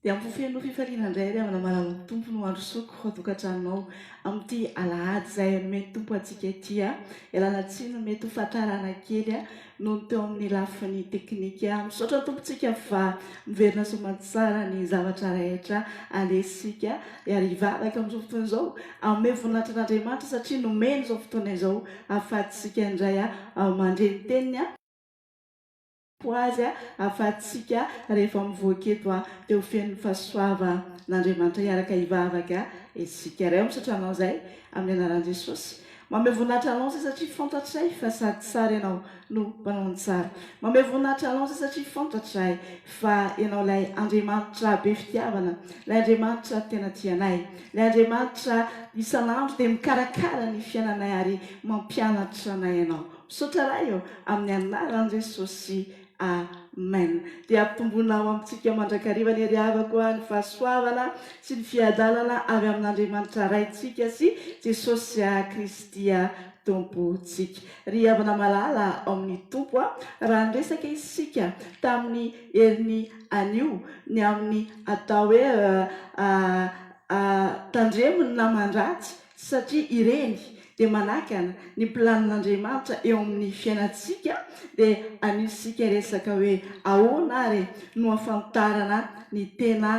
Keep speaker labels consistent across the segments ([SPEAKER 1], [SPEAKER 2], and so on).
[SPEAKER 1] Dia ho feno fifaliana indray ary amin'ny alalan'ny Tompo no handrosoako ao tokantranonao amin'ity alahady izay nomen'ny Tompo antsika ity. Ialana tsiny mety ho fahatrarana kely noho ny teo amin'ny lafiny teknika. Misaotra ny Tompontsika fa miverina soamantsara ny zavatra rehetra alesintsika ary hivavaka amin'izao fotoana izao hanome voninahitra an'Andriamanitra satria nomeny izao fotoana izao hahafaty isika indray mandre ny Teniny. Ho azy hafahatsika rehefa mivoaka eto a dia ho feno fahasoava n'Andriamanitra hiaraka hivavaka isika iray misaotra anao izay amin'ny anaran'i Jesosy mameho voninahitra anao izay satria fantatray fa sady tsara ianao no mpanao ny tsara mameho voninahitra anao izay satria fantatray fa ianao ilay Andriamanitra be fitiavana ilay Andriamanitra tena tianay ilay Andriamanitra isan'andro dia mikarakara ny fiainanay ary mampianatra anay ianao Misaotra Ray ô, amin'ny anaran'i Jesosy, Amen. Dia ampitomboina ao amintsika mandrakariva ny hery havako a, ny fahasoavana sy ny fiadanana avy amin'Andriamanitra Raintsika sy Jesosy Kristy Tompontsika. Ry havana malala ao amin'ny Tompo a, raha niresaka isika tamin'ny herin'ny anio ny amin'ny atao hoe, a, a, a, tandremo ny naman-dratsy, satria ireny dia manakana ny planin'Andriamanitra eo amin'ny fiainantsika, dia anio isika hiresaka hoe ahoana ary no ahafantarana ny tena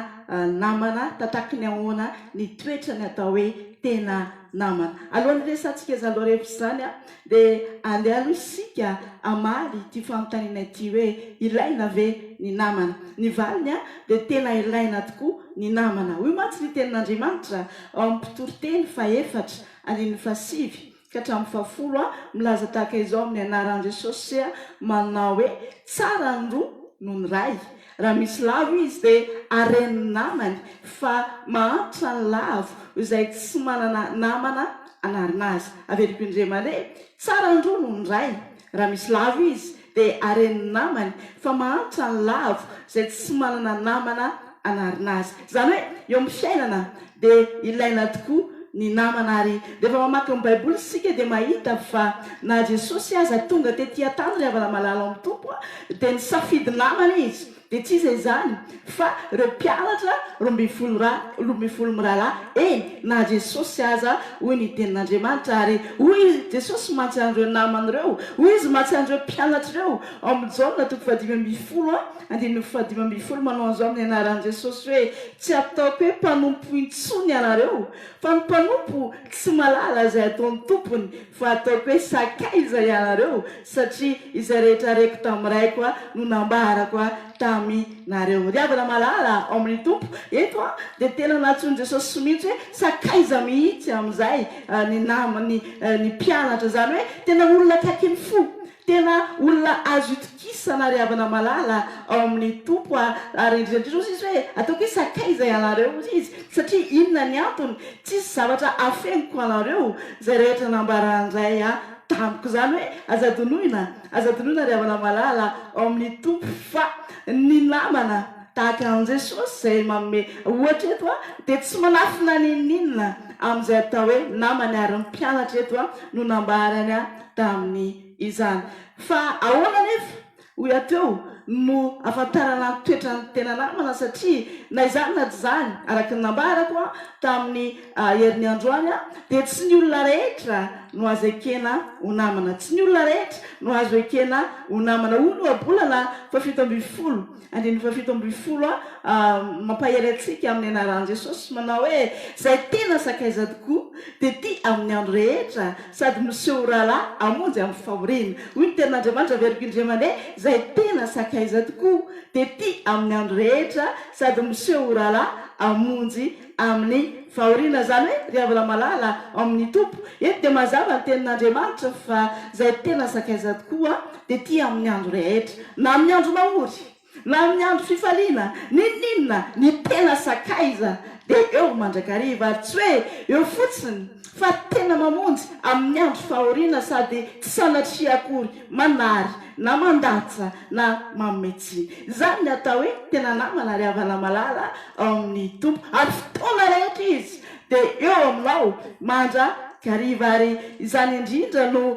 [SPEAKER 1] namana, tataky ny ahoana ny toetra ny atao hoe tena namana. Alohan'ny hiresahantsika izany loha refotra izany Dia andeha aloha isika hamaly ity fanontaniana ity hoe, ilaina ve ny namana? Ny valiny dia tena ilaina tokoa ny namana. Hoy mantsy ny Tenin'Andriamanitra ao amin'ny Mpitoriteny fahefatra, andininy fahasivy ka hatramin'ny fahafolo, milaza tahaka izao amin'ny anaran'i Jesosy, manao hoe, Tsara ny roa noho ny iray. Raha misy lavo izy dia haren'ny namany fa mahantra ny lavo izay tsy manana namana hanarina azy. Averiko indray mandeha, tsara ny roa noho ny iray. Raha misy lavo izy dia haren'ny namany fa mahantra ny lavo izay tsy manana namana hanarina azy. Izany hoe eo amin'ny fiainana, Dia ilaina tokoa ny namana ary rehefa mamaky ny baiboly isika dia mahita fa na Jesosy aza tonga tety an-tany ry havana malala ao amin'ny Tompo a, dia nisafidy namana izy, dia tsy iza izany fa ireo mpianatra roa ambin'ny folo ra, roa ambin'ny folo mirahalahy, eny na Jesosy aza hoy ny tenin'Andriamanitra ary hoy i Jesosy mantsy an'ireo namany ireo, hoy izy mantsy an'ireo mpianatra ireo ao amin'ny Jaona toko fahadimy ambin'ny folo a, Andininy fahadimy ambin'ny folo, Manao an'izao amin'ny anaran'i Jesosy hoe, Tsy ataoko hoe mpanompo intsony ianareo, fa ny mpanompo tsy mahalala izay ataon'ny tompony, fa ataoko hoe sakaiza ianareo, satria izay rehetra reko tamin'ny Raiko no nambarako taminareo. Ry havana malala ao amin'ny Tompo, eto dia tena nantsoin'i Jesosy mihitsy hoe sakaiza mihitsy amin'izay ny namany, ny mpianatra, izany hoe tena olona akaiky ny fo. Tena olona azo itokisana ary havana malala ao amin'ny Tompo aho, ary indrindra indrindra hozy izy hoe ataoko hoe sakaiza ianareo hozy izy, satria inona ny antony, tsisy zavatra afeniko anareo, izay rehetra nambaran'ny Ray ahy tamiko, izany hoe aza adinoina, aza adinoina ry havana malala ao amin'ny Tompo, fa ny namana tahaka an'i Jesosy izay manome ohatra eto dia tsy manafina n'inon'inona amin'izay atao hoe namany, ary ny mpianatra eto no nambarany. tamin' izany. Fa ahoana anefa, hoy ato eo, no ahafantarana ny toetran' ny tena namana? Satria na izany na tsy izany, araka ny nambarako tamin' ny herin' androany, dia tsy ny olona rehetra no azo ekena ho namana. Tsy ny olona rehetra no azo ekena ho namana, hoy ny ohabolana fahafito ambin'ny folo. Andininy fahafito ambin'ny folo a Mampahery antsika amin'ny anaran'i Jesosy manao hoe, Izay tena sakaiza tokoa, dia ty amin'ny andro rehetra, sady miseho ho rahalahy hamonjy amin'ny fahoriana. Hoy ny Tenin'Andriamanitra, Averiko indray mandeha, Izay tena sakaiza tokoa, dia ty amin'ny andro rehetra, sady miseho ho rahalahy hamonjy amin'ny fahoriana izany hoe ry havana malala ao amin'ny Tompo. Eto dia mazava ny tenin'Andriamanitra fa izay tena sakaiza tokoa dia tia amin'ny andro rehetra, na amin'ny andro mahory, na amin'ny andro fifaliana, n'inon'inona, ny tena sakaiza dia eo mandrakariva ary tsy hoe eo fotsiny fa tena mamonjy amin'ny andro fahoriana sady tsy sanatria akory manary na mandatsa na manome tsiny. Izany no atao hoe tena namana ary havana malala ao amin'ny Tompo, ary fotoana rehetra Izy dia eo aminao mandrakariva. Ary izany indrindra no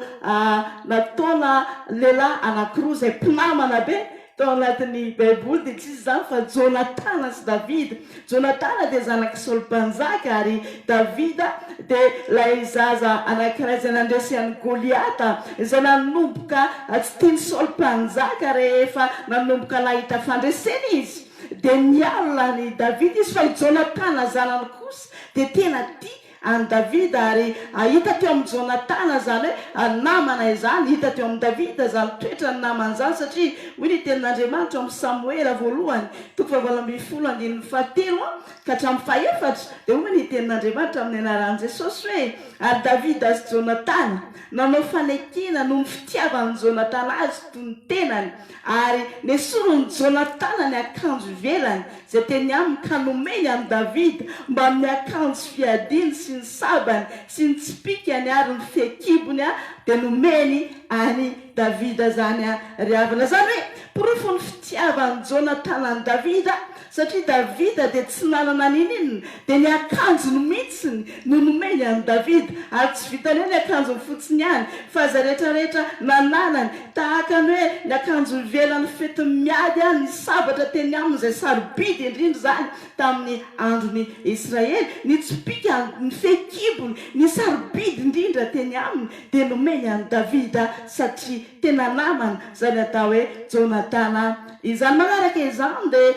[SPEAKER 1] nataona lehilahy anankiroa izay mpinamana be tao anatin'ny Baiboly, dia tsy iza izany fa Jonatana sy Davida. Jonatana dia zanak'i Saoly Mpanjaka ary Davida dia ilay zaza anankiray izay nandresy an'i Goliata izay nanomboka tsy tian'i Saoly Mpanjaka rehefa nanomboka nahita fandresena izy dia nialona an'i Davida izy fa i Jonatana zanany kosa dia tena tia an'i Davida ary hahita teo amin'i Jonatana izany hoe namana izany, hita teo amin'i Davida izany toetran'ny namana izany satria hoy ny tenin'Andriamanitra ao amin'i Samoela voalohany toko fahavalo ambin'ny folo andininy fahatelo ka hatramin'ny fahefatra dia hoy ny tenin'Andriamanitra amin'ny anaran'i Jesosy hoe ary Davida sy Jonatana nanao fanekena noho ny fitiavan'i Jonatana azy toy ny tenany Ary nesorin'i Jonatana ny akanjo ivelany izay teny aminy ka nomeny an'i Davida mbamin'ny akanjo fiadiany sy ny sabany sy ny tsipìkany ary ny fehikibony dia nomeny an'i Davida izany ry havana. Izany hoe porofon'ny fitiavan'i Jonatana an'i Davida Satria Davida dia tsy nanana n'inon'inona, dia ny akanjony mihitsiny no nomeny an'i Davida, ary tsy vitan'ny hoe ny akanjony fotsiny ihany, fa izay rehetra rehetra nananany, tahaka ny hoe ny akanjo ivelan'ny fetin'ny miady ary ny sabatra teny aminy izay sarobidy indrindra izany tamin'ny andron'ny Israely, ny tsipìka, ny fehikibony, ny sarobidy indrindra teny aminy dia nomeny an'i Davida satria tena namany izany atao hoe Jonatana. Izany manaraka izany dia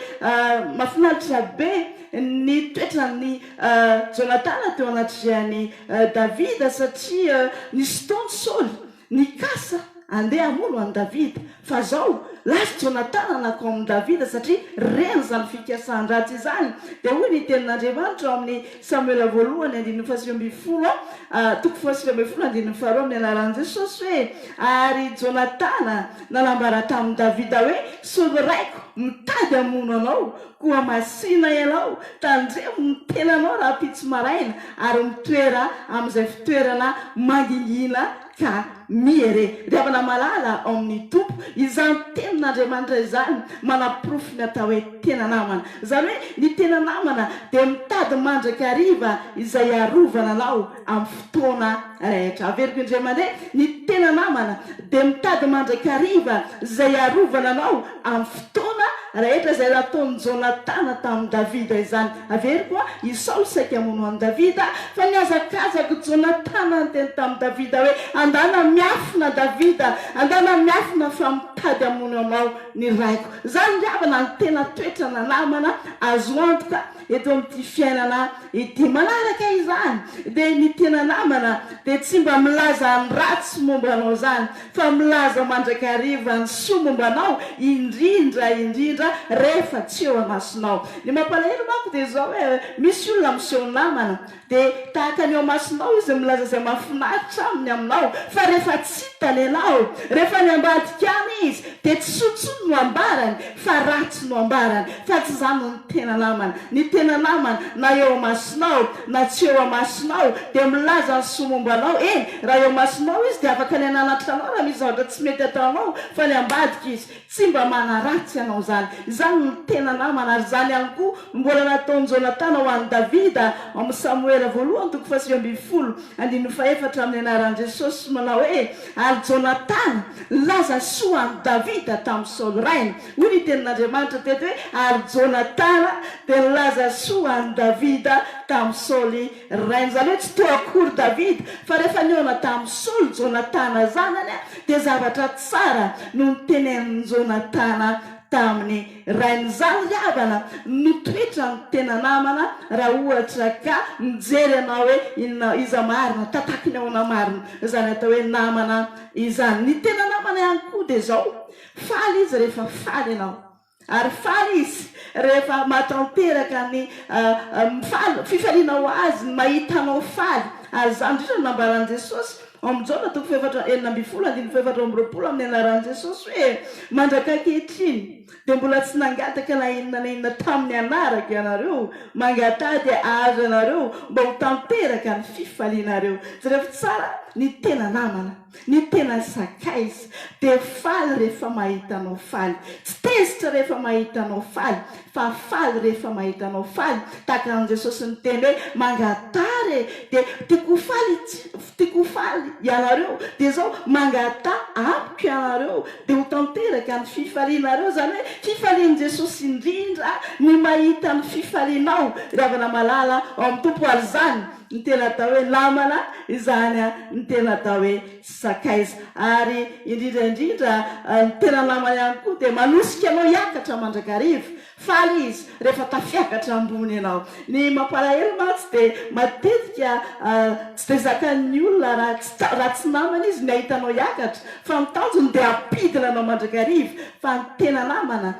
[SPEAKER 1] mafinaritra be ny toetran'i Jonatana teo anatrehan'i Davida satria nisy fotoana i Saoly nikasa handeha hamono an'i Davida fa izao lasa Jonatana nakao amin'i Davida satria reny izany fikasan-dratsy izany dia hoy ny tenin'Andriamanitra ao amin'ny Samoela Voalohany andininy fahasivy ambin'ny folo ah, toko fahasivy ambin'ny folo andininy faharoa amin'ny anaran'i Jesosy hoe, Ary Jonatana nanambara tamin'i Davida hoe, Sory raiko, mitady hamono anao, koa masìna ianao, tandremo ny tenanao rahampitso maraina, ary mitoera amin'izay fitoerana mangingina Ka mihe re, ry havana malala ao amin' ny Tompo, izany tenin' Andriamanitra izany manaporofo ny atao hoe tena namana. Izany hoe ny tena namana dia mitady mandrakariva izay hiarovana anao amin'ny fotoana rehetra. Averiko indray mandeha, ny tena namana dia mitady mandrakariva izay hiarovana anao. Amin'ny fotoana rehetra izay nataon'i Jonatana tamin'i Davida izany. Averiko an, i Saoly saika hamono an'i Davida, fa nihazakazak'i Jonatana niteny tamin'i Davida hoe, Andana miafina Davida, andana miafina fa mitady hamono anao ny raiko. Izany ry havana no tena toetrana namana azo antoka. eto amin'ity fiainana ity. Manaraka izany dia ny tena namana dia tsy mba milaza ny ratsy momba anao izany fa milaza mandrakariva ny soa momba anao indrindra indrindra rehefa tsy eo amasonao. Ny mampalahelo manko dia izao hoe misy olona miseho namana Dia tahaka ny eo amasonao izy milaza izay mahafinaritra aminy aminao, fa rehefa tsy hita ny anao, rehefa any ambadika any izy, dia tsy soa intsony no ambarany, fa ratsy no ambarany, fa tsy izany no ny tena namana. Ny tena namana, na eo amasonao, na tsy eo amasonao, dia milaza ny soa momba anao, eny, raha eo amasonao izy, dia afaka ny hananatra anao raha misy zavatra tsy mety ataonao, fa any ambadika izy, Tsy mba manaratsy ianao izany. Izany no tena namana, ary izany ihany koa no mbola nataon'i Jonatana ho an'i Davida ao amin'ny Samoela voalohany toko fahasivy ambin'ny folo, andininy fahefatra amin'ny anaran'i Jesosy manao hoe, Ary Jonatana nilaza ny soa an'i Davida tamin'i Saoly rainy. Hoy ny Tenin'Andriamanitra teto hoe, Ary Jonatana dia nilaza soa an'i Davida tamin'i Saoly. Ry rainy zany hoe tsy toa akory Davida fa rehefa nihaona tamin'i Saoly Jonatana zanany dia zavatra tsara no notenenin'i Jonatana tamin'ny rainy. Izany ry havana no toetran'ny tena namana raha ohatra ka mijery anao hoe inona iza marina, tataky ny ahoana marina izany atao hoe namana izany. Ny tena namana ihany koa dia izao, faly izy rehefa faly ianao. Ary faly Izy rehefa mahatanteraka ny faly, fifaliana ho Azy ny mahita anao faly. Ary izany indrindra no nambaran'i Jesosy ao amin'ny Jaona toko fahefatra enina ambin'ny folo andininy fahefatra amby roapolo amin'ny anaran'i Jesosy hoe, Mandraka ankehitriny dia mbola tsy nangataka na inona na inona tamin'ny anarako ianareo, mangataha dia hahazo ianareo mba ho tanteraka ny fifalianareo. Jereo tsara ny tena namana. Ny tena sakaiza dia faly rehefa mahita anao faly, tsy tezitra rehefa mahita anao faly, fa faly rehefa mahita anao faly, tahaka an'i Jesosy niteny hoe, Mangataha re, dia tiako ho faly tiako ho faly ianareo, dia izao, mangataha amiko ianareo, dia ho tanteraka ny fifalianareo. Izany hoe, fifalian'i Jesosy indrindra ny mahita ny fifalianao, ry havana malala ao amin'ny Tompo, ary izany, Ny tena atao hoe lamana izany an, ny tena atao hoe tsy sakaiza. Ary indrindra indrindra ny tena namana ihany koa dia manosika anao hiakatra mandrakariva. Faly izy rehefa tafiakatra ambony ianao. Ny mampalahelo mantsy dia matetika tsy dia zakan'ny olona raha tsy raha tsy namana izy ny hahita anao hiakatra fa ny tanjony dia hampidina anao mandrakariva. Fa ny tena namana.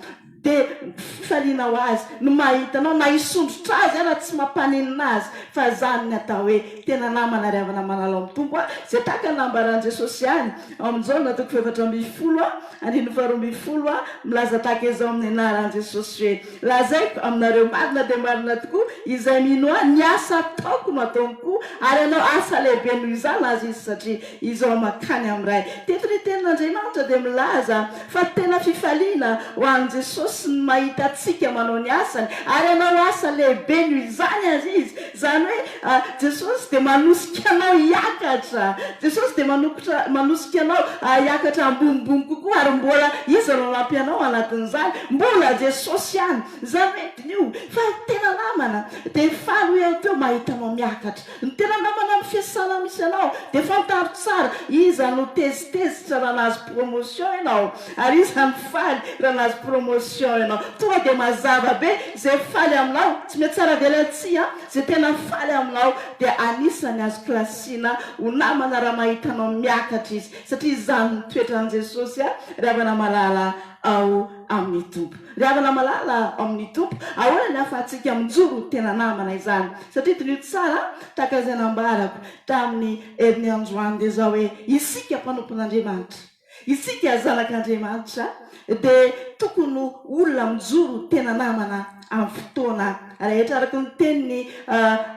[SPEAKER 1] Dia fifaliana ho azy ny mahita anao, na hisondrotra azy aza tsy mampaninona azy, fa izany ny atao hoe tena namana ry havana manalao amin'ny Tompo a! Izay tahaka ny nambaran'i Jesosy ihany ao amin'ny Jaona toko fahefatra ambin'ny folo andininy faharoa ambin'ny folo, milaza tahaka izao amin'ny anaran'i Jesosy hoe, Lazaiko aminareo marina dia marina tokoa, izay mino ahy, ny asa ataoko no ataony koa, ary hanao asa lehibe noho izany aza izy, satria Izao mankany amin'ny Ray. Teto ny Tenin'Andriamanitra dia milaza fa tena fifaliana ho an'i Jesosy ny mahita antsika manao ny asany, ary hanao asa lehibe noho izany àry Izy. Izany hoe Jesosy dia manosika anao hiakatra. Jesosy dia manokotra, manosika anao hiakatra ambonimbony kokoa. Ary mbola iza no hanampy anao anatin'izany? Mbola Jesosy ihany. Izany hoe diniho fa tena namana dia faly ho eo teo mahita anao miakatra. Ny tena namana amin'ny fiasana misy anao dia fantaro tsara iza no tezitezitra raha nahazo promotion ianao ary iza no faly raha nahazo promotion ianao. Tonga dia mazava be izay faly aminao, tsy mihatsaravelatsihy an! izay tena faly aminao dia anisany azo kilasiana ho namana raha mahita anao miakatra izy satria izany no toetran'i Jesosy an! Ry havana malala ao amin'ny Tompo. Ry havana malala ao amin'ny Tompo, ahoana ny ahafahantsika mijoro ho tena namana izany? Satria diniho tsara tahaka izay nambarako tamin'i Herinianjoany dia izao hoe, isika mpanompon'Andriamanitra, isika zanak'Andriamanitra dia tokony ho olona mijoro ho tena namana amin'ny fotoana. Rehetra araka ny teniny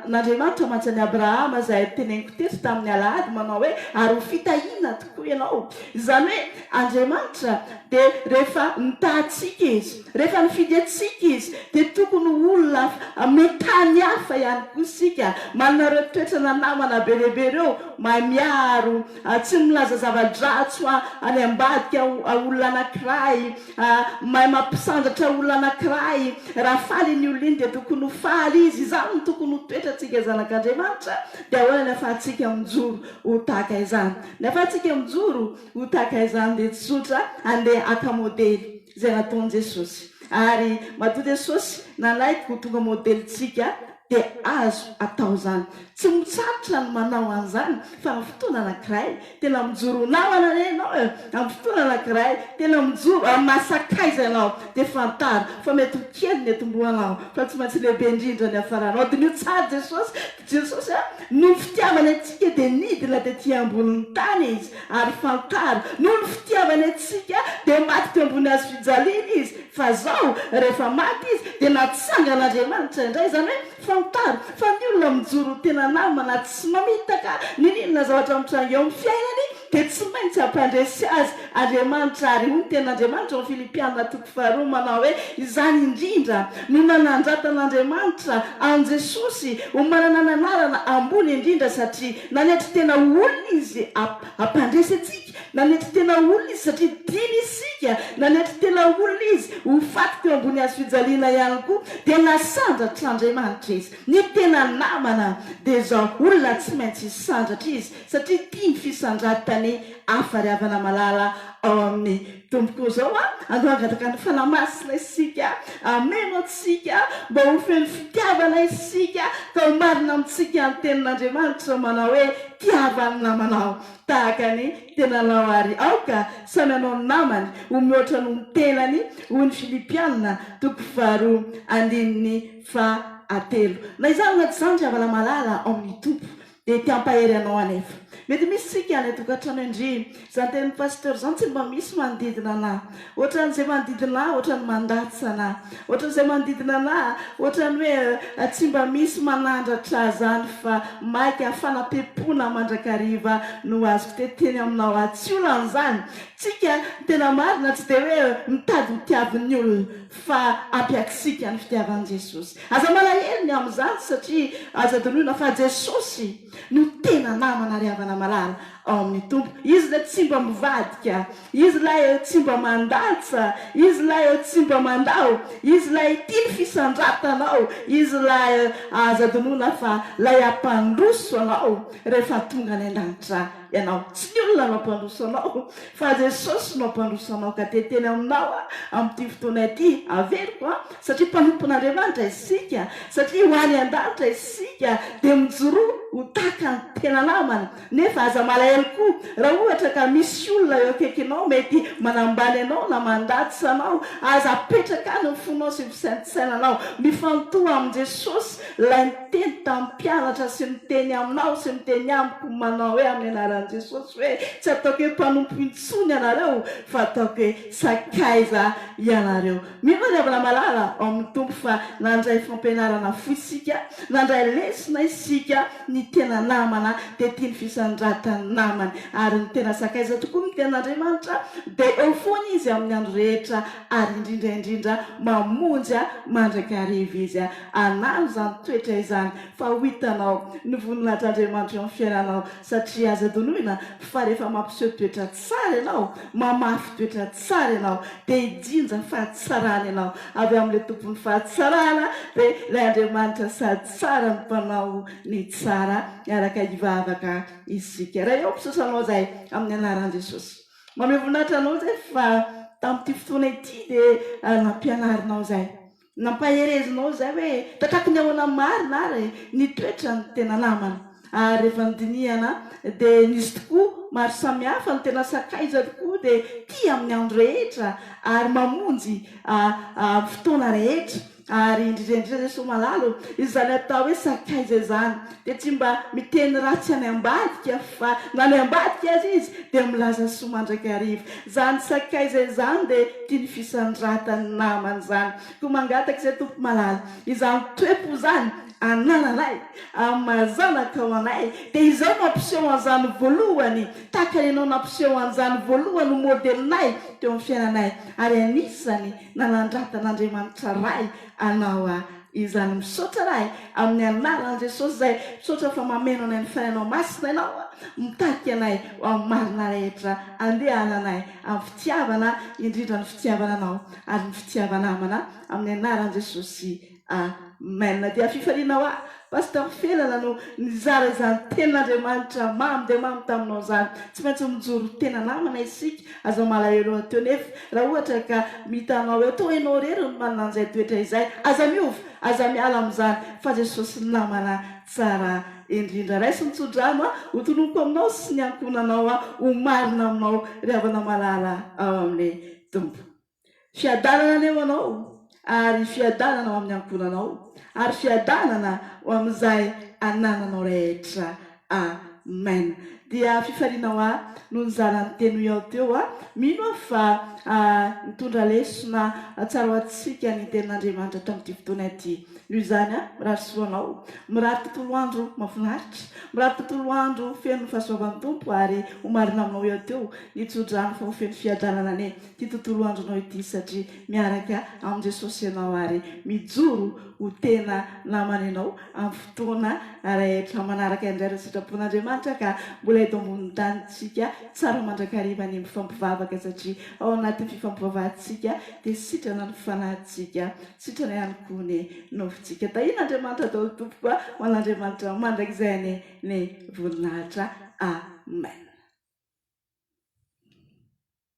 [SPEAKER 1] n'Andriamanitra mantsy an'i Abrahama izay teneniko teto tamin'ny alahady manao hoe ary ho fitahiana tokoa ianao. Izany hoe Andriamanitra dia rehefa mitaha antsika Izy, rehefa nifidy antsika Izy dia tokony ho olona mitaha ny hafa ihany koa isika. Manana ireo toetrana namana be dia be ireo, mahay miaro, tsy milaza zava-dratsy ho an'ny ambadika olona anankiray, Ah, mahay mampisandratra olona anankiray. Raha faly iny olona iny dia tokony ho faly izy. Izany no tokony ho toetrantsika zanak'Andriamanitra. Dia ahoana ny ahafahantsika mijoro ho tahaka izany? Ny ahafahantsika mijoro ho tahaka izany dia tsy zotra handeha haka modely izay nataon'i Jesosy. Ary matoa Jesosy nanaiky ho tonga modelintsika, dia azo atao izany. Tsy mitsahatra ny manao an'izany fa amin'ny fotoana anankiray, Tena mijoro ho namana re ianao e! Amin'ny fotoana anankiray, tena mijoro amin'ny maha sakaiza ianao, dia fantaro fa mety ho kely ny etombohanao, fa tsy maintsy lehibe indrindra ny hafaranao. Diniho tsara Jesosy, Jesosy a, noho ny fitiavany antsika dia nidina tetỳ ambonin'ny tany Izy, ary fantaro, noho ny fitiavany antsika dia maty teo ambony hazofijaliana Izy, fa izao, rehefa maty Izy, dia natsangan'Andriamanitra indray, izany hoe Fantaro fa ny olona mijoro ho tena namana tsy mamitaka n'inona na zavatra mitranga eo amin'ny fiainany dia tsy maintsy hampandresy azy Andriamanitra ary hoy ny tenin'Andriamanitra ao amin'ny Filipiana toko faharoa manao hoe izany indrindra no nanandratan'Andriamanitra an'i Jesosy ho manana ny anarana ambony indrindra satria nanetry tena ho olona izy hampandresy antsika Nanetry tena olona izy satria dimy isika, nanetry tena olona izy ho faty teo ambony hazo fijaliana ihany koa, dia nasandratran'Andriamanitra izy. Ny tena namana dia izao olona tsy maintsy hisandratra izy satria tia ny fisandratany hafa ry havana malala ao amin'ny Tompo. Koa izao andao hangataka ny Fanahy Masina isika, hameno antsika mba ho feno fitiavana isika ka ho marina amintsika ny tenin'Andriamanitra manao hoe tiavo ny namanao. Tahaka ny tenanao àry aoka samy hanao ny namany ho mihoatra noho ny tenany, hoy ny Filipianina, toko faharoa andininy fahatelo. Na izany na tsy izany, ry havana malala ao amin'ny Tompo, dia te hampahery anao anefa. Mety misy isika any an-tokantrano indry. Izany tenin'i Pasteur izany tsy mba misy manodidina anà. Ohatran'izay manodidina ahy ohatran'ny mandatsa anah. Ohatran'izay manodidina anah ohatran'ny hoe tsy mba misy manandratra zany fa maika fanampepoana mandrakariva no azoko teteny aminao aho. Tsy olana izany. Tsika tena marina tsy dia hoe mitady ho tiavin'ny olona fa ampiaksika ny fitiavan'i Jesosy. Aza malahelo ny amin'izany satria aza adinoina fa Jesosy no tena namana ry havana malala. ao amin'ny Tompo. Izy ilay tsy mba mivadika, Izy ilay tsy mba mandatsa, Izy ilay tsy mba mandao, Izy ilay tia ny fisandratanao, Izy ilay azo adinoina fa ilay hampandroso anao rehefa tonga any an-danitra ianao. Tsy ny olona no hampandroso anao fa Jesosy no hampandroso anao. Ka dia teny Aminao aho amin'ity fotoana ity averiko an, satria mpanompon'Andriamanitra isika, satria ho any an-danitra isika dia mijoroa ho tahaka ny tena namana. Nefa aza malahelo koa raha ohatra ka misy olona eo akaikinao mety manambany anao na mandatsa anao. Aza apetraka any ny fonao sy ny fisaintsainanao. Mifantoha amin'i Jesosy, Ilay niteny tamin'ny mpianatra sy miteny aminao sy miteny amiko manao hoe amin'ny anaran'i Jesosy hoe, Tsy ataoko hoe mpanompo intsony ianareo fa ataoko hoe sakaiza ianareo. Mino aho ry havana malala ao amin'ny Tompo fa nandray fampianarana fo isika, nandray lesona isika, Ny tena namana dia tia ny fisandratany namany ary ny tena sakaiza tokoa miteny Andriamanitra dia eo foana izy amin'ny andro rehetra ary indrindra indrindra mamonjy mandrakariva izy hanano izany toetra izany fa ho hitanao ny voninahitr'Andriamanitra eo amin'ny fiainanao satria aza adinoina fa rehefa mampiseho toetra tsara ianao mamafy toetra tsara ianao dia hijinja fahatsarana ianao avy amin'ilay tompon'ny fahatsarana dia ilay Andriamanitra sady Tsara ny mpanao ny tsara miaraka hivavaka isika. Ray ao mpisosa anao izay amin'ny anaran'i Jesosy. Mamehy voninahitra anao izay fa tamin'ity fotoana ity dia nampianarinao izay. Nampaherezinao izay hoe tatraky ny ahoana marina ary ny toetra ny tena namana. Ary rehefa nodinihana dia nisy tokoa maro samihafa no tena sakaiza tokoa dia tia amin'ny andro rehetra ary mamonjy amin'ny fotoana rehetra. Ary indrindra indrindra Jesoa Malala ô, izany atao hoe sakaiza izany dia tsy mba miteny ratsy any ambadika fa na any ambadika aza izy dia milaza soa mandrakariva. Izany sakaiza izany dia tia ny fisandratany namany izany. Koa mangataka izay Tompo Malala, izany toe-po izany anananay amin'ny maha zanakao anay dia izao no ampiseho an'izany voalohany tahaka ny anao nampiseho an'izany voalohany ho modelinay teo amin'ny fiainanay ary anisany Nanandrata an'Andriamanitra Ray anao aho izany misaotra Ray amin'ny anaran'i Jesosy izay misaotra fa mameno anay ny Fanahinao Masina ianao mitaky anay ho amin'ny marina rehetra andehananay amin'ny fitiavana indrindra ny fitiavana anao ary ny fitiavana amana amin'ny anaran'i Jesosy Amen dia fifaliana hoa Pasteur Felana no nizara izany tenin'Andriamanitra mamy dia mamy taminao izany. Tsy maintsy mijoro tena namana isika. Aza malahelo ateo nefa raha ohatra ka mitanao eo toa enao irery no manana an'izay toetra izay. Aza miova, aza miala amin'izany fa Jesosy namana tsara indrindra. Raiso ny tsodrano a! Ho tononiko aminao sy ny ankohonanao aho ho marina aminao ry havana malala ao amin'ny Tompo. Fiadanana anie ho anao ary fiadanana ho amin'ny ankohonanao ary fiadanana ho amin'izay anananao rehetra. Amen. Dia fifaliana hoa no nizara ny tenue ao teo a. Mino aho fa nitondra lesona tsara ho antsika ny tenin'Andriamanitra hatramin'ity fotoana ity. Noho izany aho mirary soa anao. Mirary tontolo andro mafinaritra. Mirary tontolo andro feno fahasoavan'ny Tompo ary ho marina aminao eo teo ny tsodrano fa ho feno fiadanana anie. ity tontolo andronao ity satria miaraka amin'i Jesosy ianao ary mijoro ho tena namany ianao amin'ny fotoana rehetra manaraka indray ireo sitrapon'Andriamanitra ka mbola eto ambonin'ny tany tsika tsara mandrakariva ny mifampivavaka satria ao anatin'ny fifampivavahantsika dia sitrana ny fanahintsika sitrana ihany koa ny nofontsika tahiana Andriamanitra atao tompoko ho an'Andriamanitra mandrakizay any ny voninahitra amen